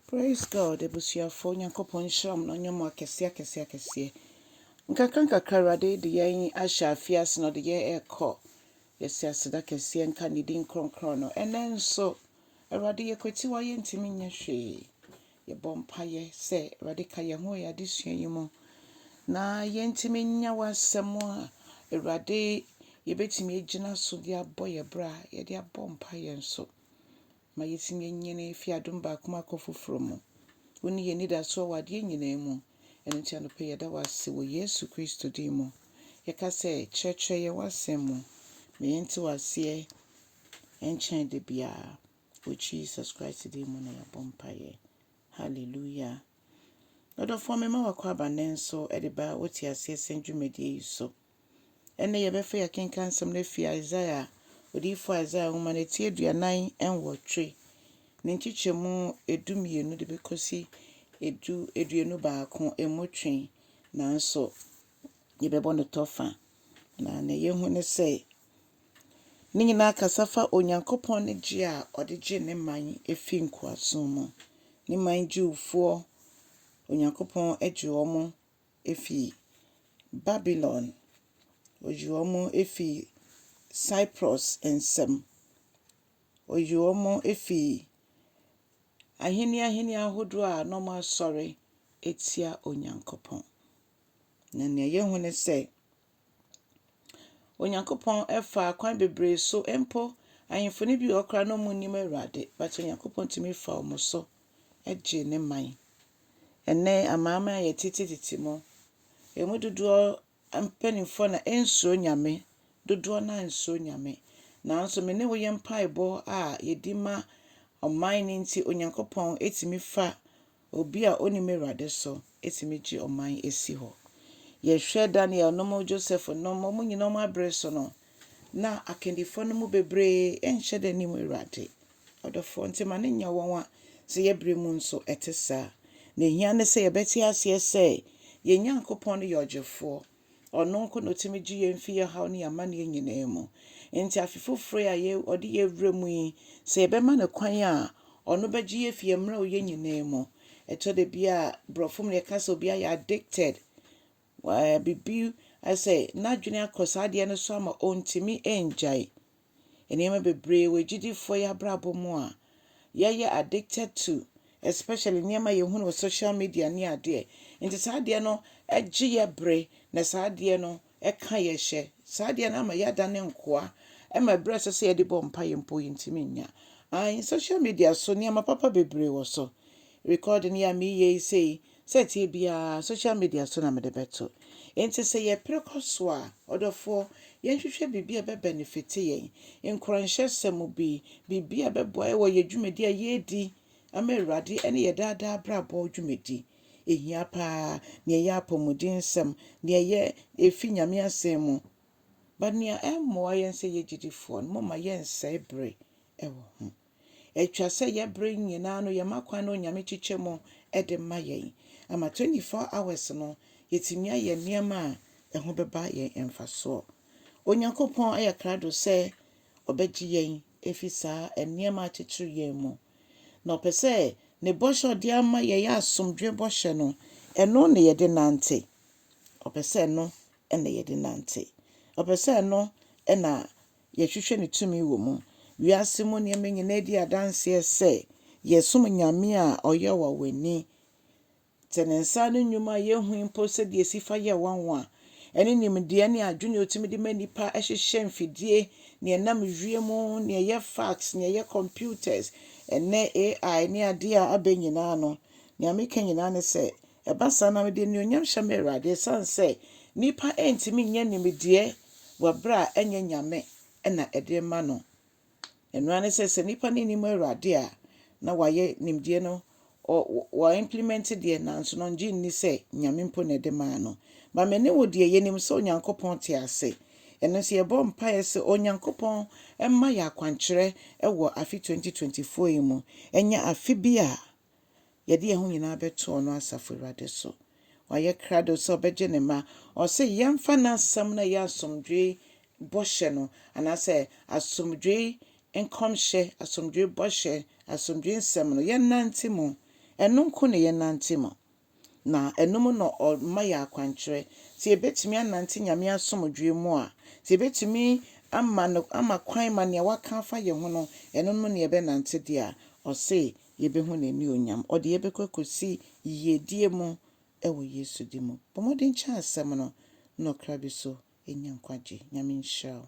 Praise God abusuafoɔ Nyankopɔn nhyira mo na ɔnyɛ mo akɛseɛ akɛseɛ akɛseɛ nkakra nkakra awurade de yɛn ahyɛ afie ase na ɔde yɛn ɛkɔ yɛsi aseda kɛseɛ nka ne din kronkron no ɛnɛ nso awurade yɛkwati wa yɛntumi nyɛ hwee yɛbɔ mpayɛ sɛ awurade ka yɛn ho yɛ adesua yi mu na yɛntumi nya w'asɛm a awurade yɛbɛtumi agyina so de abɔ yɛ bra yɛde abɔ mpayɛ nso ma yetumi anyin afi adom baako mu akɔ foforo mu. Wo ne yɛn anidasoɔ wɔ adeɛ nyinaa mu. Ɛno nti anɔpa yi yɛda wo ase wɔ Yesu Kristo din mu. Yɛka sɛ, kyerɛkyerɛ yɛn w'asɛm mu ma yɛnte wo aseɛ nkyɛn da biara. Wɔ Jesus Christ din mu na yɛabɔ mpaeɛ. Hallelujah. Ɔdɔfoɔ mema w'akwaaba nnɛ nso de ba wo te aseɛ sɛn dwumadie yi so. Ɛnnɛ yɛbɛfa yɛakenkan nsɛm no afi Isaiah, odiyifo Isaiah nhoma no ti aduanan nwɔtwe, ne nkyekyɛmu edu mmienu de bɛkɔsi edu aduonu baako mu twe, nanso yɛbɛbɔ no tɔ fa. Na nea yɛhu ne sɛ, ne nyinaa kasa fa Onyankopɔn ne gye a ɔde gye ne man fi nkoasom mu. Ne man Jewfoɔ, Onyankopɔn gye wɔn efi Babylon, oyi wɔn efi Cyprus nsam, oyi wɔn efi ahene ahene ahodoɔ a na wɔasɔre atia Onyankopɔn. Na nea yɛhu ne sɛ, Onyankopɔn faa kwan bebree so mpo ahemfo no bi wɔ hɔ koraa na wɔn nnim Awurade but Onyankopɔn tumi fa wɔn so gyee ne man. Ɛnnɛ amanaman a yɛtetetete mu, ɛmu dodoɔ mpanimfoɔ na ɛnsuro Nyame, dodoɔ no ara nsuro Nyame. Nanso me ne wo yɛ mpaebɔ a yɛdi ma ɔman no nti Onyankopɔn tumi fa Obi a ɔnnim Awurade nso tumi gye ɔman si hɔ. Yɛhwɛ Daniel nom, Joseph nom, wɔn nyinaa wɔn abere so no, na akandifoɔ no mu bebree nhyɛ da nnim Awurade. Ɔdɔfoɔ, nti ma no nyɛ wɔn a, sɛ yɛ berɛ mu nso ɛte saa. Deɛ ɛhia ne sɛ yɛbɛte aseɛ sɛ yɛn Nyankopɔn no yɛ ɔgyefoɔ, Ɔno nko na otumi gye yɛn fi yɛn haw ne yɛn amanneɛ nyinaa mu. Enti afe foforo yi a ɔde yɛn rewura mu yi, sɛ yɛbɛma no kwan a, ɔno bɛgye yɛn afi yɛn mmerɛwyɛ nyinaa mu. Ɛtɔ da bi a, Borɔfo mu no, yɛka sɛ obi ayɛ addicted, biribi ayɛ sɛ n'adwene akɔ saa adeɛ no so ama ontumi ngyae. Nneɛma bebree wɔ agyidifoɔ yɛ abrabɔ mu a yɛyɛ addicted to especially nneɛma a yɛhunu wɔ social media ne adeɛ nti saa adeɛ no gye yɛ bere na saa adeɛ no ka yɛ hyɛ saa adeɛ no ama yɛadane nkoa ɛma berɛ a ɛsɛ sɛ yɛde bɔ mpaeɛ mpo yɛntumi nnya ae social media so nneɛma papa bebree wɔ so recording yi a meyɛ yi sei Sɛ ɛteɛ biara, social media so na mede bɛto. Enti sɛ yɛpere kɔ so a, ɔdɔfoɔ, yɛnhwehwɛ biribi a ɛbɛbɛnefite yɛn, nkuranhyɛsɛm mu bi, biribi a ɛbɛboa yɛn wɔ yɛn dwumadi a yɛredi ama Awurade ne yɛn daa daa abrabɔ dwumadi. Ɛhia pa ara, nea ɛyɛ apɔmudensɛm, nea ɛyɛ ɛfi Nyame Asɛm mu ba, nea ɛmmoa yɛn sɛ yɛyɛ gyedifoɔ no, momma yɛnsɛe bere wɔ ho. Ɛtwa sɛ yɛ bere nyinaa no yɛma kwan na Onyame kyekyɛ mu de ma yɛn ama 24 hours no yɛtumi ayɛ nneɛma a ɛho bɛba yɛn mfasoɔ. Onyankopɔn ayɛ krado sɛ ɔbɛgye yɛn afi saa nneɛma akyekyere yɛn mu. Na ɔpɛ sɛ ne bɔhyɛ a ɔde ama yɛn yɛ asomdwoe bɔhyɛ no, ɛno na yɛde nante. Ɔpɛ sɛ ɛno na yɛde nante. Ɔpɛ sɛ ɛno na Yɛhwehwɛ ne tumi wɔ mu. Wiase mu nneɛma nyinaa di adanseɛ sɛ yɛsom Nyame a ɔyɛ ɔwanwani. Sɛ ne nsa ano nnwuma a yɛnhui mpo sɛdeɛ ɛsi fa yɛ nwanwa, ɛne nimdeɛ ne adwene a ɔtumi de ma nnipa hyehyɛ mfidie, nea ɛnam wiem, nea ɛyɛ fax, nea ɛyɛ computers, ɛnnɛ AI ne adeɛ a aba nyinaa no, nea meka nyinaa ne sɛ, ɛba saa na mede anuonyam hyɛ m'Awurade ɛsiane sɛ nnipa ntumi nyɛ nimdeɛ wɔ berɛ a ɛnyɛ Nyame na ɛde rema no. Ɛno ara ne sɛ, sɛ nnipa no nnim Awurade a, na wɔayɛ nimdeɛ no, wɔ implement deɛ nanso no ɔngye nni sɛ Nyame mpo na ɛde maa no. Ba me ne wo deɛ yɛnim sɛ Onyankopɔn te ase. Ɛno nso yɛbɔ mpaeɛ sɛ Onyankopɔn mma yɛ akwankyerɛ wɔ afe 2024 yi mu. Ɛnyɛ afe bi a. Yɛde yɛn ho nyinaa bɛto ɔno Asafo Awurade so. Wayɛ krado sɛ ɔbɛgye ne mma. Ɔse yɛmfa n'asɛm no a ɛyɛ asomdwoe bɔhyɛ no, anaasɛ asomdwoe nkɔmhyɛ, asomdwoe bɔhyɛ, asomdwoe nsɛm no, yɛnnante mu. Ɛno nko na yɛnnante mu. Na ɛno mu na ɔma yɛ akwankyerɛ. Sɛ yɛbɛtumi anante Nyame asomdwoeɛ mu a, sɛ yɛbɛtumi ama no ama kwan ma nea waka afa yɛ ho no, ɛno mu na yɛbɛnante deɛ a, ɔse yɛbɛhu n'aniuonyam. Ɔde yɛ bɛkɔ akɔsi yiedie mu wɔ Yesu din mu. Bɔ mmɔden kyɛ asɛm no na ɔkra bi so nya nkwagye. Nyame nhyira wo.